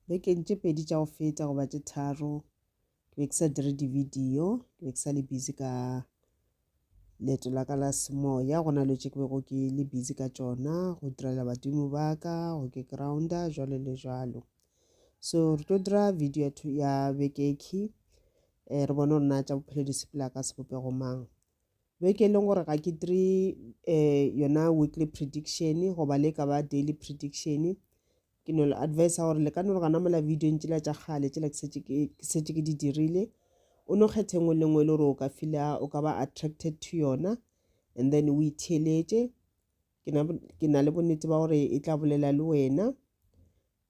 Bekeng tše pedi tša go feta goba tše tharo ke be ke sa dire di-video ke be ke sa le busy ka leeto la ka la semoya go na le tše ke bego ke le busy ka tšona go direla badimo ba ka go ke grounda jalo le jalo so re tlo dira video ya bekeki um eh, re bone gore na tša bophelo di sepela ka sebopego mang beke e leng gore ga ke dire um yona weekly prediction goba le ka ba daily prediction Ke no le advisa gore le ka no re gana mola video ntšela tša kgale tšela ke setse ke di dirile o no kgethe ngwe le ngwe le gore o ka fila o ka ba attracted to yona and then o itheeletše ke na le bonnete ba gore e tla bolela le wena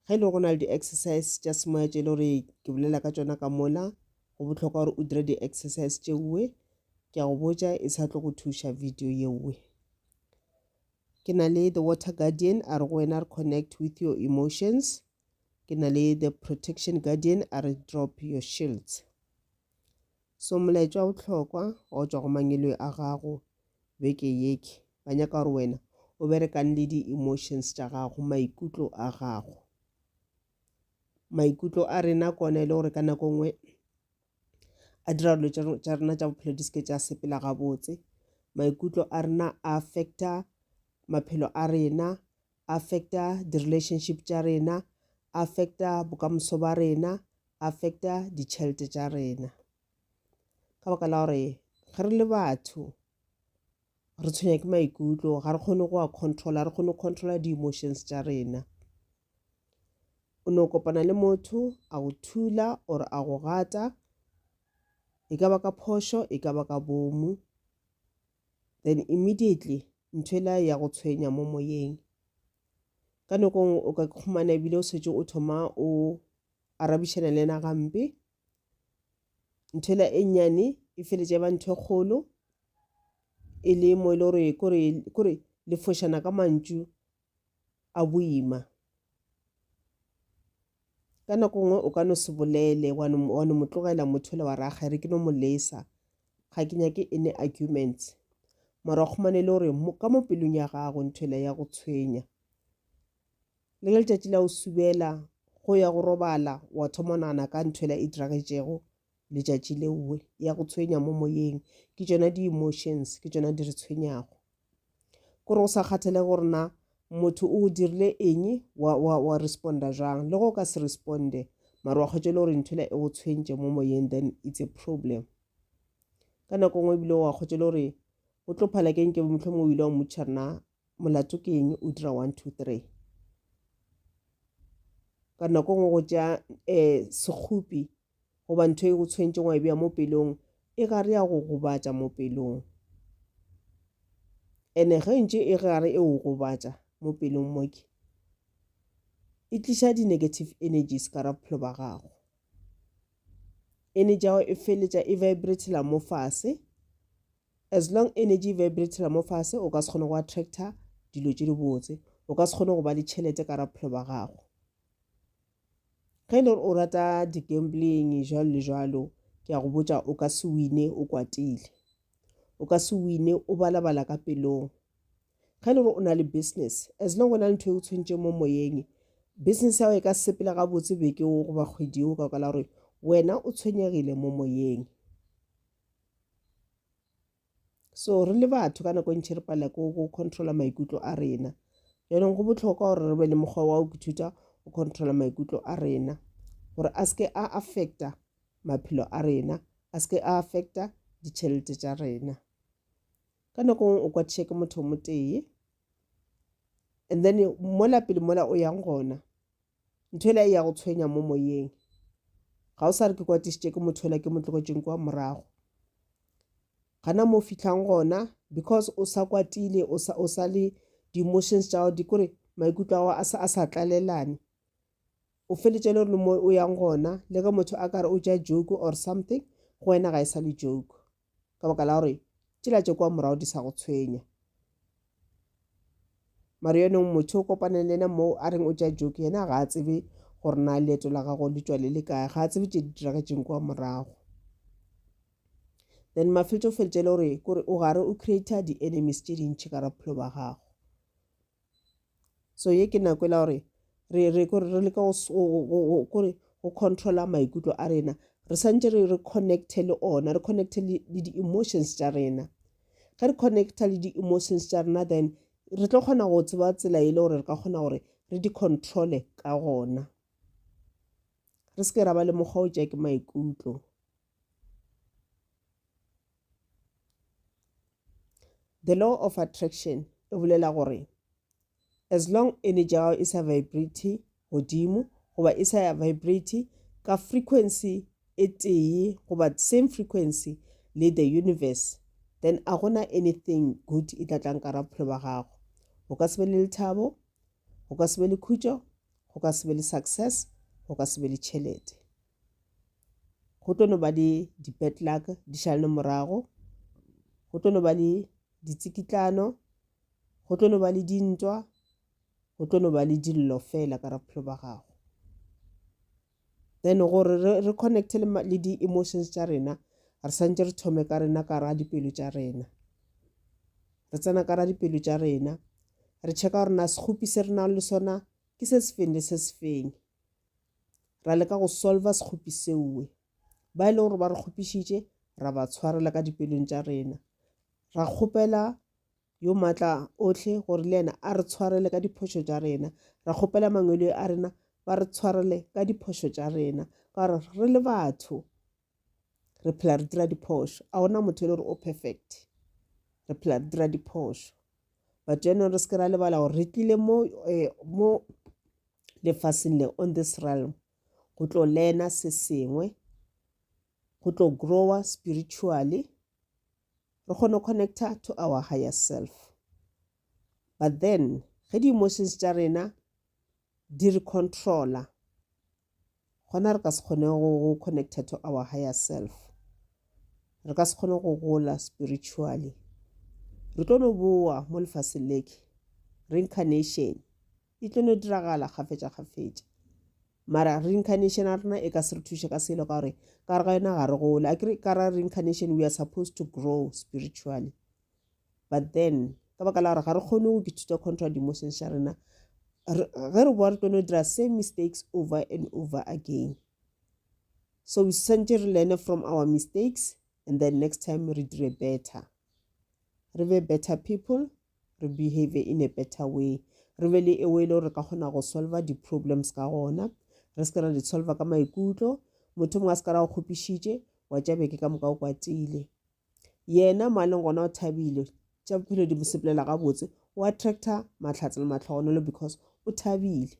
ge e le go na le di-exercise tša semoya tše e le gore ke bolela ka tšona ka mola go bohlokwa gore o dire di-exercise tšeuwe ke a go botša e sa tlo go thuša video yeuwe Ke na le The Water Guardian, a re go wena re connect with your emotions. Ke na le The Protection Guardian, a re drop your shields. So molaetšwa o tlhokwa wa tšwa go mangeloi a gago beke yeke. Ba nyaka gore wena o berekang le di-emotions tša gago, maikutlo a gago. Maikutlo a rena kona e le gore ka nako nngwe a dira dilo tša rena tša bophelo di seke tša sepela gabotse maikutlo a rena a affecta maphelo a rena affecta di-relationship tša rena affecta bokamoso ba rena affecta ditšhelete tša rena ka baka la gore ge re le batho re tshwenya ke maikutlo ga re kgone go a controla re kgone go controla di-emotions tša rena o ne o kopana le motho a go thula or a go gata e ka ba ka phošo e ka ba ka bomu then immediately ntho ela ya go tshwenya mo moyeng ka nako nngwe o ka kgomana ebile o setse o thoma o arabišana le ena gampe ntho ela e nnyane e feletša e ba ntho e kgolo e le mo e le gore kore kore le fošana ka mantšu a boima ka nako nngwe o ka no se bolele wa no mo tlogela motho le wa raga e re ke no mo lesa ga ke nyake e ne arguments mara o kgomane le gore ka mo pelong ya gago ntho ela ya go tshwenya Le ge letšatši la go subela go ya go robala wa thoma o nagana ka ntho ela e diragetšego letšatši leowe, ya go tshwenya mo moyeng. Ke tšona di-emotions, ke tšona di re tshwenyago. Kore go sa kgathalege gore na motho o go dirile eng, wa, wa, wa responda jwang. Le ge o ka se responde, mara wa kgwetša e le gore ntho ela e go tshwentše mo moyeng, then it's a problem. Ka nako e nngwe ebile wa kgwetša e le gore o tlo phala ke eng, ke be mohlomongwe o ile wa mmotšiša re na molato ke eng o dira one two three ka nako ngwe go ja um sekgopi goba ntho e go tshwentšeng wa e beya mo pelong e ka re ya go gobatša mo pelong ene ge ntše e gare e o gobatša mo pelong moke e tliša di-negative energies ka ra bophelo ba gago energy ya gago e feletša e vibratela mo fase As long energy e vibratela mo fase, o ka se kgone go attracta dilo tše di botse. O ka se kgone go ba le tšhelete ka ra bophelo ba gago. Ge e le gore o rata di gambling jwalo le jwalo, ke a go botša o ka se wine o kwatile. O ka se wine o balabala ka pelong. Ge e le gore o na le business, as long o na le ntho e o tshwentšeng mo moyeng, business ya gago e ka sepela gabotse beke o goba kgwedi o ka kwa la gore wena o tshwenyegile mo moyeng. so re le batho ka nako e ntšhi re palela ko go controla maikutlo a rena jaanong go botlhokwa gore re be le mokgwa wa go ithuta go controla maikutlo a rena gore a seke a affecta maphelo a rena a seke a affecta ditšhelete tša rena ka nako ngwe o kwa check motho o motee and then mola pele mola o yang gona Ntho ela e ya go tshwenya mo moyeng. Ga o sa re ke kwatišitše ke motho ela ke mo tlogetšeng kwa morago. Gana mo o fitlhang gona because o sa kwatile o sa o sa le di-emotions tša gago di kore maikutlo a gago a sa a sa tlalelane. O feletše le gore le mo o yang gona le ge motho a ka re o ja joke or something go wena ga e sa le joke. ka baka la gore tšela tše kwa morago di sa go tshwenya mare yonong motho o kopaneng le ena moo a reng o tša joke yena ga a tsebe gore na leeto la gago le tšwale le kae ga a tsebe tše di diragetseng kwa morago then mafetso o feletše le gore kore o gare o creator di-enemies tše dintšhi ka raphelo ba gago so ye ke nako e la gore re re kore re leka kore go controla maikutlo a rena re santse re re connecte le ona re connecte le di-emotions tša rena ge re connecta le di-emotions tša rena then re tlo kgona go tseba tsela e le gore re ka kgona gore re di controle ka gona re se ke ra ba le mokgwa o tša ke maikutlo The law of attraction e bolela gore as long energy ya gago e sa vibrate godimo goba e sa vibrate ka frequency e tee goba same frequency le the universe then a gona anything good e tla tlang ka ra bophelo ba gago go ka se be le lethabo go ka se be le khutšo go ka se be le success go ka se be le tšhelete go tlo no ba le di-bad luck di šalane morago go tlo no ba le ditsikitlano go tlo no ba le dintwa go tlo no ba le dillo fela ka ra bophelo ba gago then gore re connecte le di-emotions tša rena re santse re thome ka rena ka ra dipelo tša rena re tsena ka ra dipelo tša rena re checka gore na sekgopi se re nang le sona ke se sefeng le se sefeng ra leka go solva sekgopi seoe ba e leng gore ba re kgopišitše ra ba tshwarela ka dipelong tša rena ra kgopela yo matla otlhe gore le yena a re tshwarele ka diphošo tša rena ra kgopela mangwele a rena ba re tshwarele ka diphošo tša rena ka gore re le batho re phela re dira diphošo a gona motho e le gore o perfect re phela re dira diphošo but jaanong re seke ra lebala gore re tlile mo eh, mo lefaseng le on this realm go tlo learna se sengwe go tlo grower spiritually re kgone connecta to our higher self but then ge di-emotions tša rena di re controla Gona re ka se kgone go, go connecta to our higher self. Re ka se kgone go gola spiritually. Re tlo no boa mo lefaseng leke. Reincarnation e tlo no diragala kgafetša kgafetša. Mara reincarnation ya rena e ka se re thuše ka selo ka gore ka re ga yona ga re gole. Akere ka ra reincarnation we are supposed to grow spiritually. but then ka baka la gore ga re kgone go ithuta contra di-emotions tša rena ge re boa re tlono dira same mistakes over and over again so we santse re learne from our mistakes and then next time re dire better re be better people re behave in a better way re be le ewo e le gore re ka kgona go solva di-problems ka gona re se ke ra di solva ka maikutlo motho mongwe a se ka ra go kgopišitše wa tšabeke ka moka o kwatile Yena mo a leng gona o thabile. Tša bophelo di mo sepelela gabotse. O attracta mahlatse le mahlogonolo because o thabile.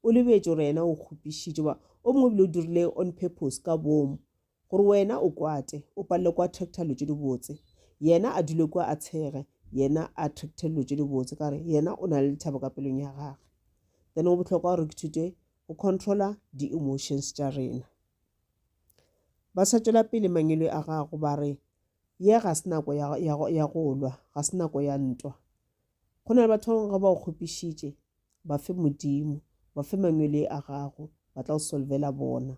O lebetše gore yena o kgopišitše ba o mongwe ebile o dirile on purpose ka bomo gore wena o kwate o palele ko attracta dilo tše dibotse. Yena a dule kwa a tshege yena a attracte dilo tše dibotse ka gore yena o na le lethabo ka pelong ya gage. Then go bohlokwa gore ke thute go controla di-emotions tša rena. Ba sa tšwela pele mangwelwe a gago ba re, Ye ga se nako ya, ya, ya go lwa, ga se nako ya ntwa. Go na le batho ba bangwe ge ba o kgopišitše, ba fe Modimo, ba fe mangwelwe a gago, ba tla o solvela bona.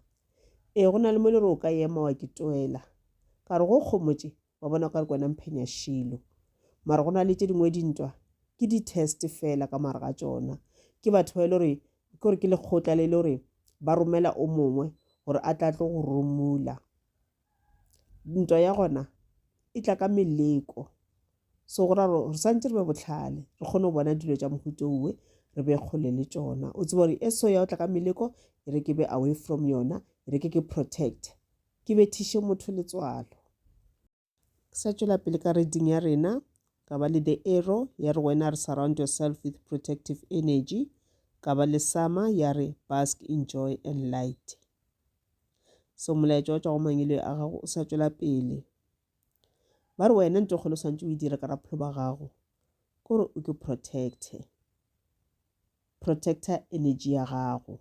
Ee, go na le mo le re o ka ema wa ke toela. Ka re go kgomotše, wa bona o ka re kwena mphenya shilo mara go na le tše dingwe dintwa ke di-test fela ka mare ga tsona ke batho ba e le gore ke gore ke lekgotla le le gore ba romela o mongwe gore a tla tlo go romula ntwa ya gona e tla ka meleko so go ra gore re santse re be botlhale re kgone go bona dilo tša mohuto uwe re be kgole le tsona o tseba gore e so ya o tla ka meleko e re ke be away from yona e re ke ke protect Ke bethiše motho letswalo. Ke sa tšwela pele ka reading ya rena, ka ba le the arrow ya re wena re surround yourself with protective energy, ka ba le sama ya re bask in joy and light. So molaetša o tšwa go mangeloi a gago o sa tšwela pele. Ba re wena ntho kgolo swantse o e dire ka rapholo ba gago, kore o ke protecte. protector energy ya gago.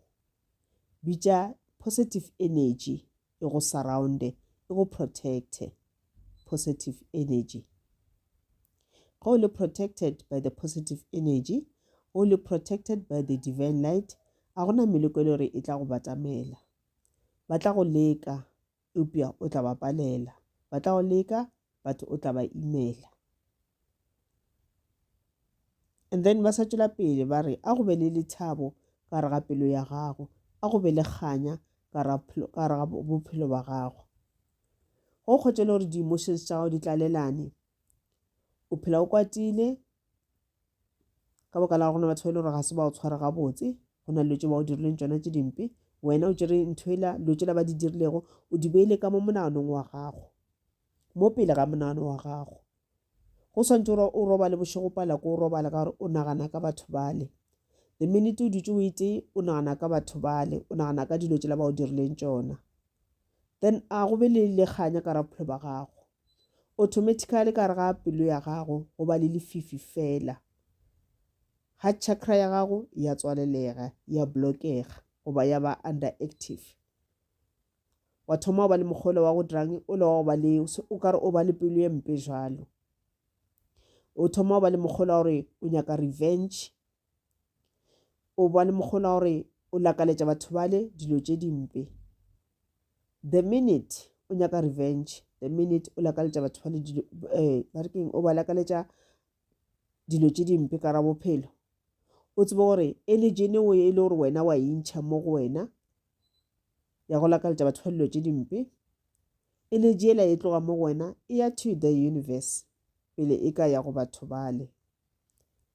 Bitša positive energy e go surround-e, e go protect-e, positive energy. Ge o le protected by the positive energy, ge o le protected by the divine light, a gona meleko e le gore e tla go batamela. Ba tla go leka, eupša o tla ba palela. Ba tla go leka, but o tla ba imela. And then ba sa tšwela pele ba re, a go be le lethabo ka re ga pelo ya gago, a go be le kganya ka re ga bophelo ba gago. Go kgotšele gore di-emotions tša gago di tlalelane, o phela o kwatile, ka baka la gore batho ba e le gore ga se ba o tshwara gabotse go na dilo tse ba o dirileng tsona tse dimpe wena o tsere ntho ela dilo tsela ba di dirilego o di beile ka mo monaganong wa gago mo pele ga monagano wa gago go swantse gore o robale bošego pala ko o robala ka gore o nagana ka batho bale the minute o dutse o etse o nagana ka batho bale o nagana ka dilo tsela ba o dirileng tsona then a go be le lekganya ka ra bophelo ba gago automatically ka re ga pelo ya gago go ba le lefifi fela heart chakra ya gago ya tswalelega ya blockega goba ya ba under active wa thoma o ba le mokgolo wa go dirang o le wa go ba le o kare o ba le pelo e mpe jalo o thoma o ba le mokgolo wa gore o nyaka revenge o ba le mokgona gore o lakaletša batho bale dilo tše dimpe the minute o nyaka revenge the minute o lakaletša batho bale dilo eh, ba re keng o ba lakaletša dilo tše dimpe ka ra bophelo o tsebe gore e le jene o e le gore wena wa intšha mo go wena ya go lakaletša batho ba dilo tše dimpe e le jela e tloga mo go wena e ya to the universe pele e ka ya go batho bale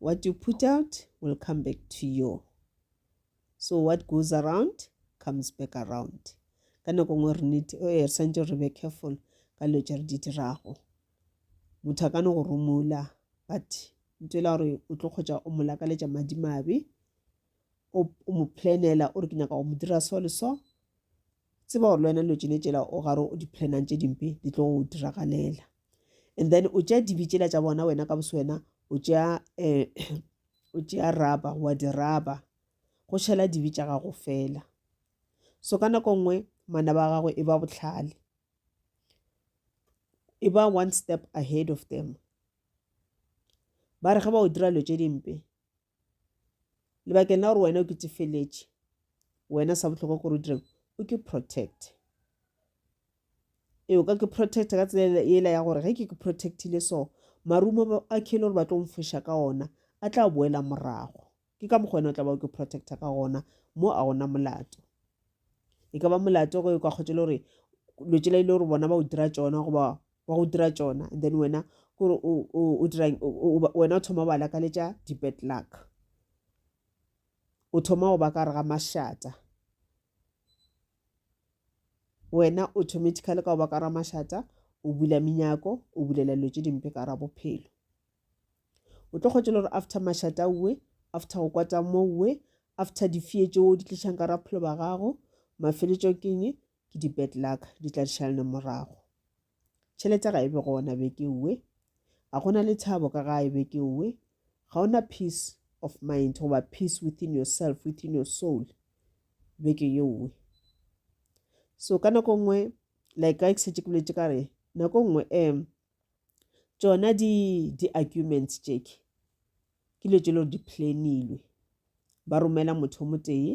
What you put out will come back to you. So what goes around comes back around. Ka nako nngwe re need eh, re santse re be careful ka dilo tse re di dirago. Motho a ka no go romola but nto e la gore o tlo kgotsa o mo lakaletša madimabe o o mo planela o re ke nyaka go mo dira so le so Tseba gore le wena dilo tšene tšela o gare o di-planang tše dimpe di tlo go diragalela and then o tšea dibe tšela tša bona wena ka boswena o tšea um o tšea raba wa diraba go šhela dibe tša gago fela so ka nako nngwe manaba a gago e ba botlhale e ba one step ahead of them ba re ge ba o dira dilo tše dimpe lebakeng la gore wena o ke tefeletše wena sa bohlokwa gore o direng o ke protect e o ka ke protect ka tsela ela ya gore ge ke ke protectile so marumo a khele gore ba tlo mfoša ka ona a tla boela morago ke ka mokgwa wena o tla ba o ke protecta ka gona mo a gona molato e ka ba molato go e kwa kgotse le gore lotšela ile gore bona ba o dira tsona goba wa go dira tšona and then wena kore o dirang wena o thoma bala ka letša di-bad luck o thoma go ba ka re ga mašata wena automatically ka go ba ka ra mašata o bula menyako o bulela dilo tše dimpe ka ra bophelo o tlo kgotšela gore after mašata uwe after go kwata mo uwe after difee tšeo di tlišang ka ra bophelo ba gago mafeletšo keng ke di bad luck di tla di šalana morago tšhelete ga e be gona be ke uwe ga gona le thabo ka ga e be ke uwe ga ona peace of mind goba peace within yourself within your soul be ke ye uwe so ka nako nngwe like ka ke setse ke boletse ka re nako nngwe um tšona di-arguments di tšeke ke dilo tše le gore di planilwe ba romela motho mo tee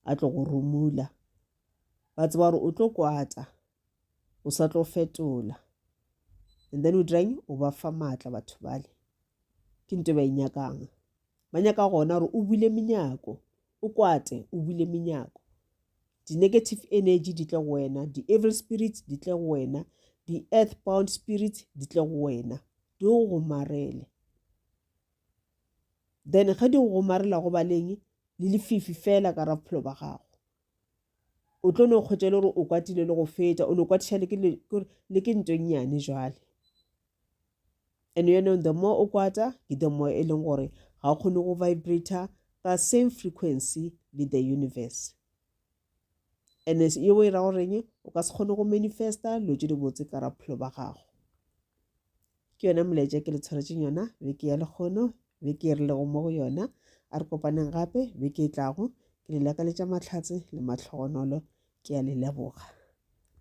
a tlo go romula ba tseba gore o tlo kwata o sa tlo fetola and then o dirang o ba fa maatla batho bale ke nto ba e nyakang ba nyaka gona gore o bule menyako o kwate o bule menyako di-negative energy di tle go wena di-evil spirit di tle go wena di-earth bound spirit di tle go wena di go gomarele then ge di go gomarela go baleng le lefifi fela ka ra bophelo ba gago o tlo no kgwetša le gore o kwatile le go feta o no kwatiša le ke ntonyane jwale and yaanong the more o kwata ke the more e leng gore ga o kgone go vibrator ka same frequency le the universe and yeo e ra goreng o ka se kgone go manifesta dilo tse dibotse ka raphelo ba gago ke yona molaetša ke le tshwaretseng yona beke ya lekgono beke e re lego mo go yona a re kopaneng gape beke e tlago ke le lakaletša mahlatse le mahlogonolo ke a le leboga